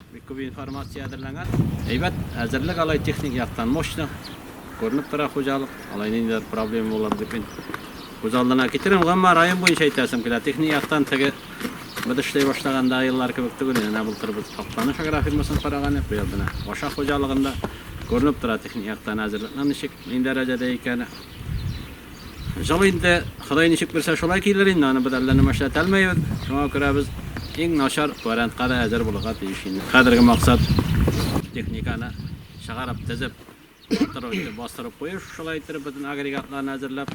Бик күп информация әзерләнгән. Әйбәт әзерлек алай техник яктан мощно. Күренеп тора хуҗалык. Алай ниндидер проблема булыр дип мин күз алдына китерәм. Гомумән район буенча әйтәсем килә. Техник яктан теге без эшләй башлаганда еллар кебек түгел. Менә былтыр без Актаныш агрофирмасын караган идек. Быел менә Баша хуҗалыгында күренеп тора техник яктан әзерлекнең ничек, нинди дәрәҗәдә икәне. Җылы инде, Ходай ничек бирсә шулай килер инде, аны без әллә нәмә эшләтә алмыйбыз. Шуңа күрә без иң начар вариантка да әзер булырга тиеш инде. Хәзерге максат техниканы чыгарып, тезеп, тору инде, бастырып кую, шулай иттереп бөтен агрегатларны әзерләп.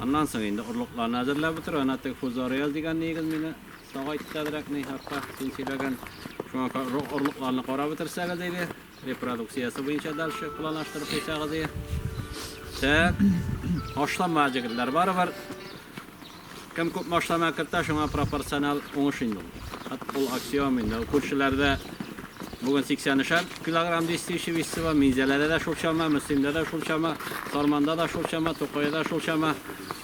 Аннан соң инде орлыкларны әзерләп бетерү, әнә теге Фузорияз дигән ниегез мине сагайтты әзрәк, ни хакта син сөйләгән. Шуңа орлыкларны карап бетерсәгез иде. Репродукциясе буенча дальше планлаштырып куйсагыз ди. Так. Ашлама җегетләр барыбер. Кем күп машлама кертә, шуңа пропорционал уңыш инде ул. Хат ул аксиом инде. Күршеләрдә бүген 83 килограмм дистиши висива, Минзәләдә дә шул чама, Мөслимдә дә шул чама, Сарманда да шул чама, Тукайда шул чама.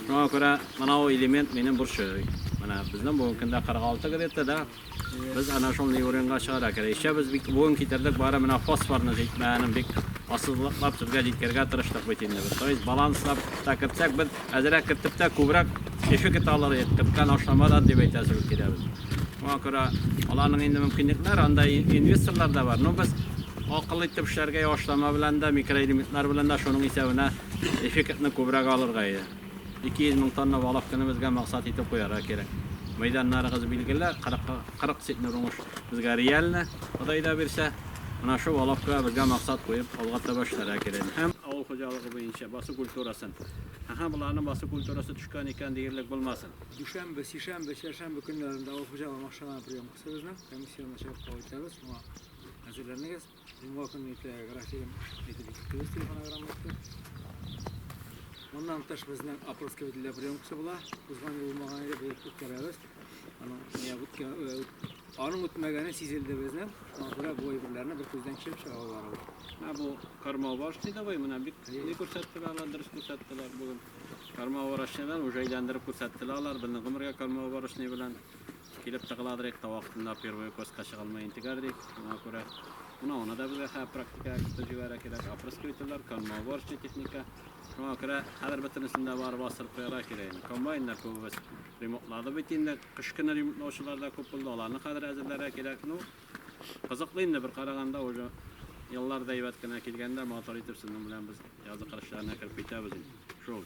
Шуңа күрә мынау элемент минем борчый. Менә безнең бүгенкендә 46 где-то, да? Без ана шул Неуренга чыгара керә. Ишә без бик буын китердек, бары менә фосфорны җитмәгәнен бик асызлыклап сезгә җиткергә тырыштык бит инде без. То есть баланслап та кертсәк, без әзерәк кертеп тә күбрәк кеше кете алыр идек, керткән ашламадан дип әйтәсе бик килә без. Шуңа күрә аларның инде мөмкинлекләр, анда инвесторлар да бар. Но без акыл итеп эшләргә ашлама белән дә, микроэлементлар белән дә шуның исәбенә эффектны күбрәк алырга иде. 200 мең тонна балык көнебезгә максат итеп куярга кирәк. Мәйданнарыгыз билгеле, 40, 40 центнер уңыш безгә реально, Ходай да бирсә. Менә шул алабка безгә максат куеп, алга таба эшләргә кирәк. Һәм авыл хуҗалыгы буенча басу культурасын. Ха-ха, боларның басу культурасы төшкән икән диярлек булмасын. Дүшәмбе, сишәмбе, чәршәмбе көннәрендә авыл хуҗалыгы машиналарының приемкасы безнең. Комиссионлы чакырту итәбез, моңа әзерләнегез. Мулласын итә Графилем әйтеп киттегез телефонограммасы. Моннан тыш безнең Апольская для приемка була. Узган ел булмаган иде, быел үткәрәбез. Аның аның үтмәгәне сизелде безнең. Шуңа күрә бу әйберләрне бер күздән кичереп чыга алалар. Ә бу кармаваш диде бай, менә бик ни күрсәттеләр, алар дөрес күрсәттеләр бүген. Кармаварашчыдан уже әйләндереп күрсәттеләр алар, безнең гомергә кармаварашны белән Килеп тыгыла дирек, тау астында первый укоска чыга алмый интегә дирек, шуңа күрә менә аны да безгә хәзер практика эксперты җибәрә кирәк, опрыскивательләр, конмоуборочный техника. Шуңа күрә хәзер бөтенесен дә барып бастырып куярга кирәк инде. Комбайннар күбебез ремонтлады бит инде, кыш көне ремонтлаучылар да күп булды, аларны хәзер әзерләргә кирәк. Ну, кызыклы инде бер караганда, уже еллар да әйбәт кенә килгәндә, матур итеп сезнең белән без язгы кыр эшләренә кереп китәбез инде. Шул.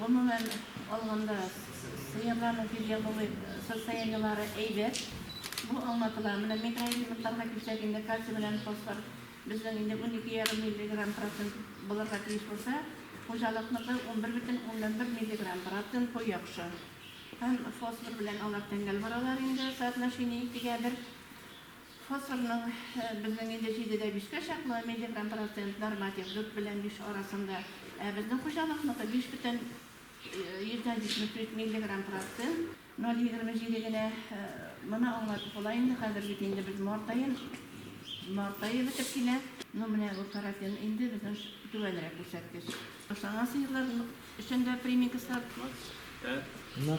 Гомумән алганда, сыерларның физиологик состояниеләре әйбәт. Бу аңлатыла. Менә микроэлементларга килсәк инде, кальций белән фосфор безнең инде унике ярым миллиграмм процент булырга тиеш булса, хуҗалыкныкы унбер бөтен уннан бер миллиграмм процент, бу яхшы. Һәм фосфор белән алар тәңгәл баралар инде, соотношение икегә бер. Фосфорның безнең инде җидедә бишкә чаклы, миллиграмм процент норматив, дүрт белән биш арасында. Ә безнең хуҗалыкныкы биш бөтен йөздән җитмеш дүрт миллиграмм процент, ноль егерме җиде генә. Моны аңлатып була инде, хәзер бит инде без март аен, март ае бетеп килә. Ну, менә бу каротин инде безнең түбәнрәк күрсәткеч. Ташланган сыерлар өчен дә примикслар. Ны.